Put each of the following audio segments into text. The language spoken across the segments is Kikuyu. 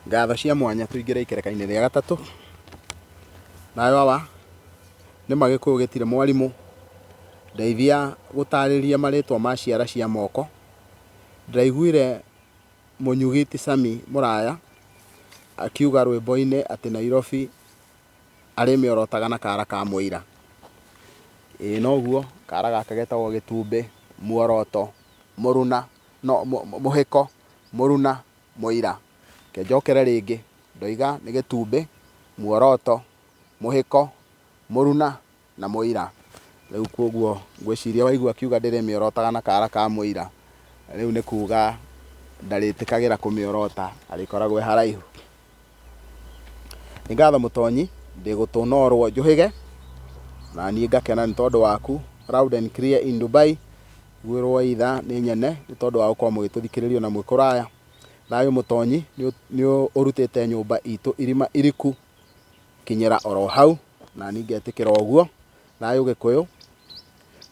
ngatho cia mwanya tũingĩre ikerekainĩ rĩa gatatũ nayo awa nĩ magĩkũyũ gĩtirĩ mwarimũ ndeithia gũtarĩria marĩtwa ma ciara cia moko ndaiguire mũnyugi ti sami mũraya akiuga rwĩmboinĩ atĩ nairobi arĩmĩorotaga na kara ka mũira ĩĩ noguo kara gake getagwo gĩtumbĩ muoroto mũruna no mũhĩko mũruna Mũira. Reke njokere rĩngĩ. Ndoiga nĩ gĩtumbĩ, muoroto, mũhĩko, mũruna na mũira. Rĩu kwoguo ngwĩciria waigua akiuga ndĩrĩmĩorotaga na kaara ka mũira, rĩu nĩ kuuga ndarĩtĩkagĩra kũmĩorota, arĩkoragwo e haraihu. Nĩ ngatho Mũtonyi, ndĩ gũtũ norwo njũhĩge, na niĩ ngakena nĩ tondũ waku, loud and clear in Dubai, ngwĩrwo either nĩ nyene nĩ tondũ wa gũkorwo mũgĩtũthikĩrĩria ona mwĩ kũraya. Thayũ Mũtonyi nĩ ũrutĩte nyũmba itũ irima iriku kinyĩra oro hau, nani ngetĩkĩra ũguo. Thayũ Gĩkũyũ,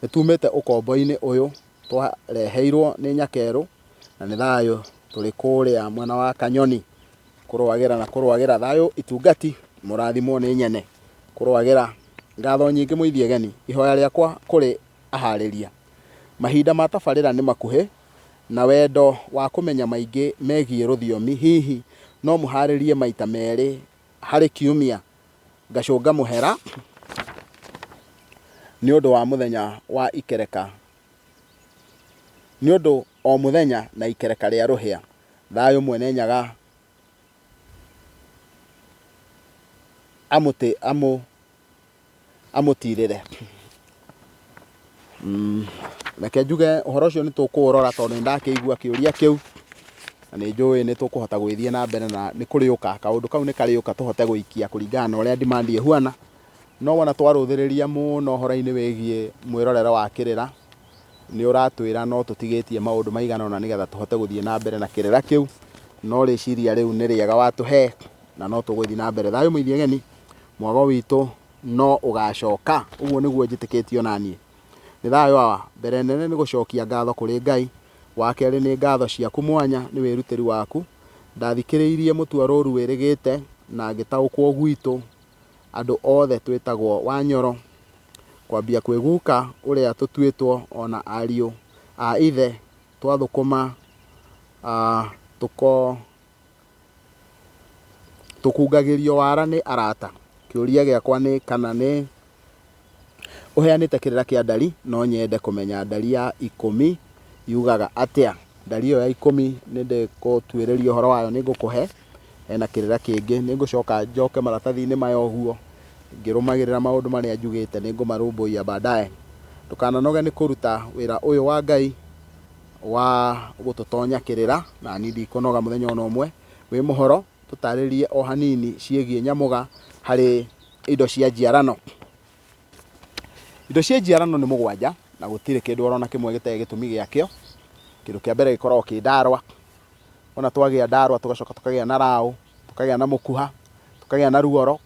nĩ tumĩte ũkombo-inĩ ũyũ Twareheirwo nĩ Nyakerũ na nĩ thayũ tũrĩ kũrĩa mwena wa Kanyoni kũrũagĩra na kũrũagĩra thayũ itungati mũrathimwo nĩ Nyene kũrũagĩra ngatho nyingĩ mũithie geni ihoya rĩakwa kũrĩ aharĩria mahinda ma tabarĩra nĩ makuhĩ na wendo wa kũmenya maingĩ megiĩ rũthiomi hihi no mũharĩrie maita merĩ harĩ kiumia ngacũnga mũhera nĩ ũndũ wa mũthenya wa ikereka, nĩ ũndũ o mũthenya na ikereka rĩa rũhĩa, thayũ Mwene Nyaga amũtĩ, amũ, amũtirĩre Mm, reke njuge ũhoro ũcio nĩ tũkũũrora tondũ nĩ ndakĩigua kĩũria kĩu na nĩ njũĩ nĩ tũkũhota gwĩthiĩ na mbere na nĩ kũrĩũka kaũndũ kau nĩ karĩũka tũhote gũikia kũringana na ũrĩa ndimandi ĩhuana no wona twarũthĩrĩria mũno ũhoro-inĩ wĩgiĩ mwĩrorero wa kĩrĩra nĩ ũratwĩra no tũtigĩtie maũndũ maigana ũna nĩgetha tũhote gũthiĩ na mbere na kĩrĩra kĩu no rĩciria rĩu nĩ rĩega watũhe na no tũgũthiĩ na mbere thayũ mũithi ageni Mwago witũ no ũgaacoka. Ũguo nĩguo njĩtĩkĩtie o na niĩ. Nĩ thayũ wa. Mbere nene nĩ gũcokia ngatho kũrĩ Ngai. Wa kerĩ nĩ ngatho ciaku mwanya nĩ wĩrutĩri waku. Ndathikĩrĩirie mũtuarũrũ wĩrĩgĩte na ngĩtaũkwo gwitũ andũ othe twĩtagwo wa Nyoro. Kwambia kwĩ guka ũrĩa tũtuĩtwo o na ariũ a ithe twathũkũma tũko. Tũkungagĩrio wara nĩ arata. Kĩũria gĩakwa nĩ kana nĩ ũheanĩte kĩrĩra kĩa ndari. No nyende kũmenya ndari ya ikũmi yugaga atĩa. Ndari ĩyo ya ikũmi nĩndĩgũtuĩrĩria ũhoro wayo nĩngũkũhe. Hena kĩrĩra kĩngĩ. Nĩngũcoka njoke maratathi-inĩ maya ũguo ngĩrũmagĩrĩra maũndũ marĩa njugĩte. Nĩngũmarũmbũiya baadaye. Ndũkananoge nĩ kũruta wĩra ũyũ wa Ngai. wa gũtũtonya kĩrĩra nani ndikũnoga mũthenya ona ũmwe wĩ mũhoro tũtarĩrie o hanini ciĩgiĩ nyamũga harĩ indo cia njiarano indo cia njiarano nĩ mũgwanja na gũtirĩ kĩndũ orona kĩmwe gĩtarĩ gĩtũmi gĩakĩo kĩndũ kĩa mbere gĩkoragwo kĩ ndarwa ona twagĩa ndarwa tũgacoka tũkagĩa na raũ tũkagĩa na mũkuha tũkagĩa na ruoro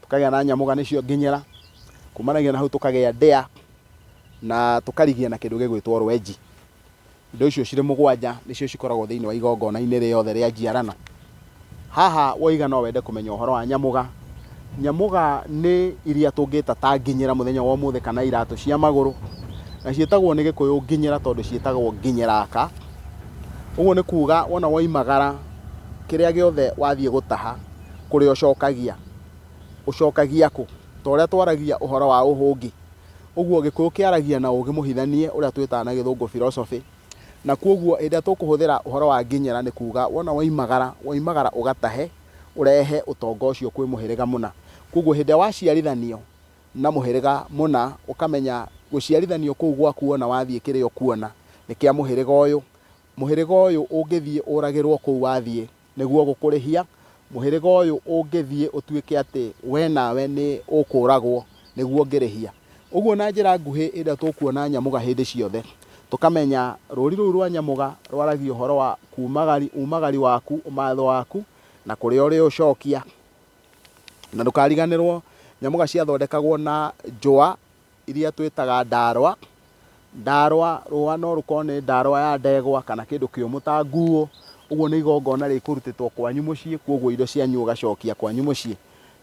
tũkagĩa na nyamũga nĩcio nginyĩra, kumanagia na hau tũkagĩa ndĩa, na tũkarigia na kĩndũ gĩgwĩtwo rwenji. Indo icio cirĩ mũgwanja nĩcio cikoragwo thĩinĩ wa igongona-inĩ rĩothe rĩa njiarano. Haha woiga no wende kũmenya ũhoro wa nyamũga, nyamũga nĩ iria tũngĩta ta nginyĩra mũthenya wa ũmũthĩ kana iratũ cia magũrũ, na ciĩtagwo nĩ gĩkũyũ nginyĩra tondũ ciĩtagwo nginyĩraka. Ũguo nĩ kuga wona woimagara kĩrĩa gĩothe wathiĩ gũtaha, kũrĩa ũcokagia, ũcokagia kũ? Ta ũrĩa twaragia ũhoro wa ũhũngĩ, ũguo Gĩkũyũ kĩaragia na ũũgĩ mũhithanie ũrĩa twĩtaga na Gĩthũngũ philosophy. Na kwoguo hĩndĩ ĩrĩa tũkũhũthĩra ũhoro wa nginyĩra nĩ kuuga wona woimagara, woimagara ũgatahe, ũrehe ũtonga ũcio kwĩ mũhĩrĩga mũna. Kwoguo hĩndĩ ĩrĩa waciarithanio na mũhĩrĩga mũna, ũkamenya gũciarithanio kũu gwaku wona wathiĩ kĩrĩa ũkuona nĩ kĩa mũhĩrĩga ũyũ. Mũhĩrĩga ũyũ ũngĩthiĩ ũragĩrwo kũu wathiĩ, Nĩguo gũkũrĩhia, mũhĩrĩga ũyũ ũngĩthiĩ ũtuĩke atĩ wee nawe nĩ ũkũũragwo nĩguo ũngĩrĩhia. Ũguo na njĩra nguhĩ hĩndĩ ĩrĩa tũkuona Nyamũga hĩndĩ ciothe, tũkamenya rũũri rũu rwa Nyamũga rwaragia ũhoro wa kuumagari, uumagari waku, ũmatho waku, na kũrĩa ũrĩũcokia. Na ndũkariganĩrwo Nyamũga ciathondekagwo na njũa iria twĩtaga ndarwa. Ndarwa, rũa no rũkorwo nĩ ndarwa ya ndegwa kana kĩndũ kĩũmũ ta nguũ, ũguo nĩ igongona rĩkũrutĩtwo kwanyu mũciĩ, kwoguo indo cianyu ũgacokia kwanyu mũciĩ.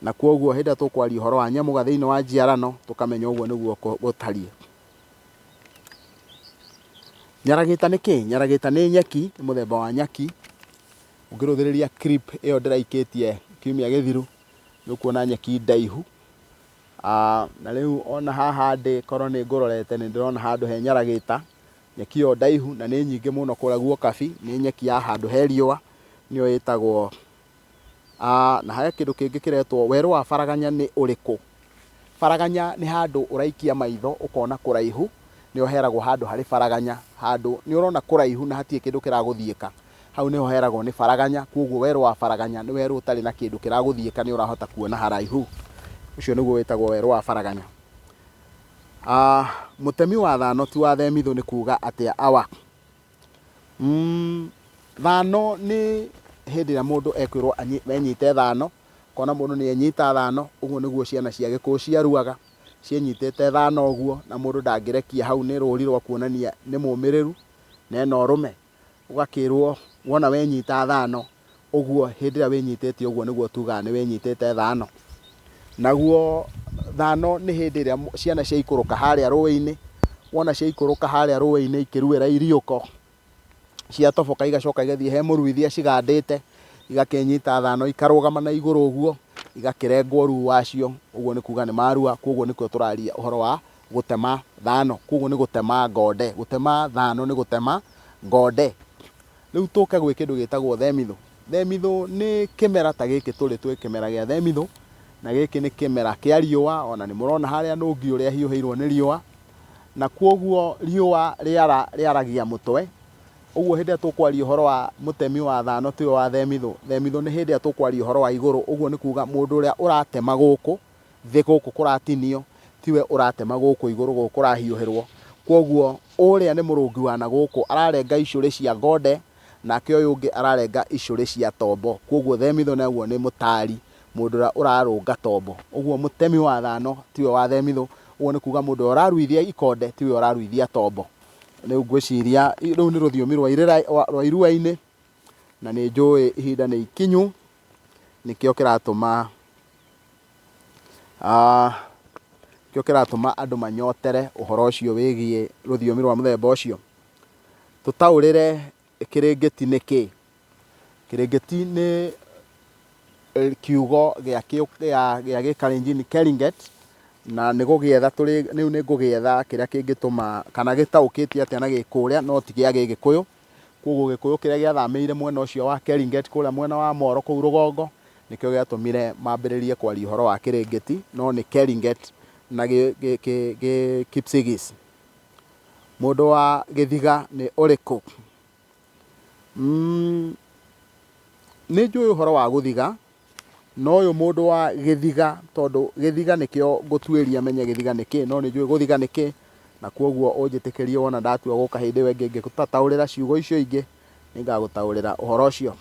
Na kwoguo hĩndĩ ĩrĩa tũkwaria ũhoro wa nyamũga thĩinĩ wa njiarano, tũkamenya ũguo nĩguo gũtariĩ. Nyaragita nĩ kĩ? Nyaragita nĩ nyeki, nĩ mũthemba wa nyeki. Ũngĩrũthĩrĩria clip ĩyo ndĩraikĩtie kiumia gĩthiru, nĩ ũkuona nyeki ndaihu. Na rĩu ona haha ndĩ, korwo nĩ ngũrorete nĩ ndĩrona handũ he nyaragĩta, nyeki ĩyo ndaihu na nĩ nyingĩ mũno kũrĩa guo kabi, nĩ nyeki ya handũ he riũa nĩyo ĩtagwo, na he kĩndũ kĩngĩ kĩretwo werũ wa baraganya nĩ ũrĩkũ? Baraganya nĩ handũ ũraikia maitho ũkona kũraihu, nĩho heragwo handũ harĩ baraganya, handũ nĩ ũrona kũraihu na hatirĩ kĩndũ kĩragũthiĩka. Hau nĩho heragwo nĩ faraganya, kwoguo werũ wa faraganya nĩ werũ ũtarĩ na kĩndũ kĩragũthiĩka nĩ ũrahota kuona haraihu. Ũcio nĩguo wĩtagwo werũ wa faraganya. Mũtemi wa thano ti wa themithũ nĩ kuuga atĩa awa? Thano nĩ hĩndĩ ĩrĩa mũndũ ekwĩrwo enyite thano, ũkona mũndũ nĩ enyita thano, ũguo nĩguo ciana cia Gĩkũyũ ciaruaga, cienyitĩte thano ũguo na mũndũ ndangĩrekia hau nĩ rũri rwa kuonania nĩ mũmĩrĩru na ena ũrũme. Ũgakĩĩrwo, Wona wenyiita thaano ũguo, hĩndĩ ĩrĩa wĩnyiitĩĩtie ũguo nĩguo tuugaga nĩ wĩnyiitĩĩte thaano. Naguo thaano nĩ hĩndĩ ĩrĩa ciana ciaikũrũka haarĩa rũũĩ-inĩ. Wona ciaikũrũka haarĩa rũũĩ-inĩ ikĩruĩra iriũko, ciatoboka igacoka igathiĩ he mũruithia cigandĩĩte, igakĩĩnyiita thaano ikarũũgama na igũrũ ũguo, igakĩrengwo ruu wacio, ũguo nĩ kuuga nĩ marua. Kwoguo nĩkuo tũraaria ũhoro wa Gũtema thano, koguo nĩ gũtema ngonde. Gũtema thano nĩ gũtema ngonde. Rĩu tũke gwĩ kĩndũ gĩtagwo themithũ. Themithũ nĩ kĩmera ta gĩkĩ tũrĩ, twĩ kĩmera gĩa themithũ, na gĩkĩ nĩ kĩmera kĩa riũa, o na nĩ mũrona harĩa nũngi ũrĩa ahiũhĩirwo nĩ riũa, na koguo riũa rĩara, rĩaragia mũtwe, ũguo hĩndĩ ĩrĩa tũkwaria ũhoro wa mũtemi wa thano ti ũyũ wa themithũ, themithũ nĩ hĩndĩ ĩrĩa tũkwaria ũhoro wa igũrũ, ũguo nĩ kuuga mũndũ ũrĩa ũratema gũkũ Thĩ gũkũ kũratinio, tiwe ũratema gũkũ igũrũ gũkũ kũrahiũhĩrwo. Kwoguo ũrĩa nĩ mũrũngi wa na gũkũ ararenga icũrĩ cia ngonde, nake ũyũ ũngĩ ararenga icũrĩ cia tombo. Kwoguo themithũ ũguo nĩ mũtaari, mũndũ ũrĩa ũrarũnga tombo. Ũguo mũtemi wa thano tiwe wa themithũ, ũguo nĩ kuuga mũndũ ũrĩa ũraruithia ikonde tiwe ũraruithia tombo. Rĩu ngwĩciria rũu nĩ rũthiomi rwa irua-inĩ. Na nĩ njũĩ ihinda nĩ ikinyu, nĩkĩo kĩratũma nĩkĩo kĩratũma andũ manyotere ũhoro ũcio wĩgiĩ rũthiomi rwa mũthemba ũcio. Tũtaũrĩre kĩrĩngĩti nĩ kĩ? Kĩrĩngĩti nĩ kiugo gĩa gĩa gĩkalenjin keringet, na nĩ gũgĩetha rĩu nĩ ngũgĩetha kĩrĩa kĩngĩtũma kana gĩtaũkĩtio atĩa na gĩkũrĩa no ti gĩa gĩgĩkũyũ. Kwoguo Gĩkũyũ kĩrĩa gĩathamĩire mwena ũcio wa Keringet kũrĩa mwena wa Moro kũu rũgongo nĩkĩo gĩatũmire mambĩrĩrie kwaria ũhoro wa Kĩrĩngĩti, no nĩ Keringet na Gĩ-Kipsigis. Mũndũ wa Gĩthiga nĩ ũrĩkũ? Nĩ njũĩ ũhoro wa gũthiga No ũyũ mũndũ wa gĩthiga tondũ gĩthiga nĩkĩo ngũtuĩria menye gĩthiga nĩ kĩĩ, no nĩ njũĩ gũthiga nĩ kĩĩ, na kwoguo ũnjĩtĩkĩrie wona ndatua gũka hĩndĩ ĩyo ĩngĩ ngĩgũtaũrĩra ciugo icio ingĩ, nĩ ngagũtaũrĩra ũhoro ũcio.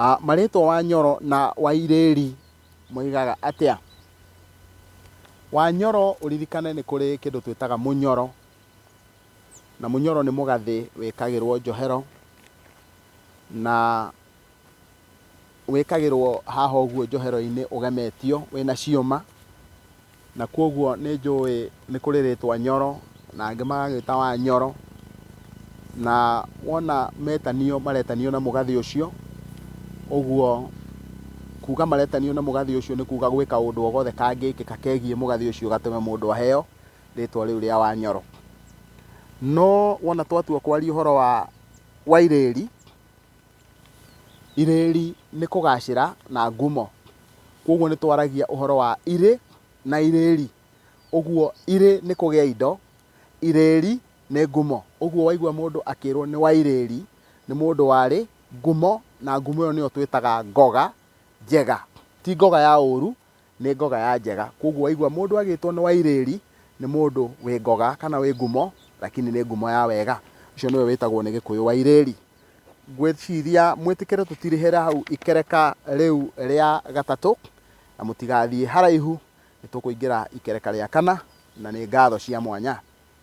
Ah, marĩtwa Wanyoro na Wairĩri moigaga atĩa? Wanyoro ũririkane nĩ kũrĩ kĩndũ twĩtaga mũnyoro, Na mũnyoro nĩ mũgathĩ wĩkagĩrwo njohero, na wĩkagĩrwo haha ũguo njohero-inĩ ũgemetio wĩ na ciũma, na kwoguo nĩ njũĩ nĩ kũrĩ rĩtwa Nyoro, na angĩ magagĩta wa Nyoro, na wona metanio maretanio na mũgathĩ ũcio, ũguo kuuga maretanio na mũgathĩ ũcio nĩ kuuga gwĩka ũndũ o gothe kangĩkĩka kegiĩ mũgathĩ ũcio gatũme mũndũ aheo. rĩtwa rĩu rĩa Wanyoro. No wona twatua kwaria ũhoro wa wa irĩri, irĩri nĩ kũgacĩra na ngumo. Koguo nĩ twaragia ũhoro wa irĩ na irĩri. Ũguo irĩ nĩ kũgĩa indo, irĩri nĩ ngumo. Ũguo waigua mũndũ akĩrwo nĩ wa irĩri, nĩ mũndũ warĩ ngumo, na ngumo ĩyo nĩyo twĩtaga ngoga njega. Ti ngoga ya ũru, nĩ ngoga ya njega. Kwoguo waigua mũndũ agĩtwo nĩ Wairĩri, nĩ mũndũ wĩ ngoga kana wĩ ngumo, lakini nĩ ngumo ya wega. Ũcio nĩwe wĩtagwo nĩ Gĩkũyũ Wairĩri. Ngwĩciria mwĩtĩkĩre tũtirĩhĩre hau ikereka rĩu rĩa gatatũ, na mũtigathiĩ haraihu, nĩ tũkũingĩra ikereka rĩa kana, na nĩ ngatho cia mwanya.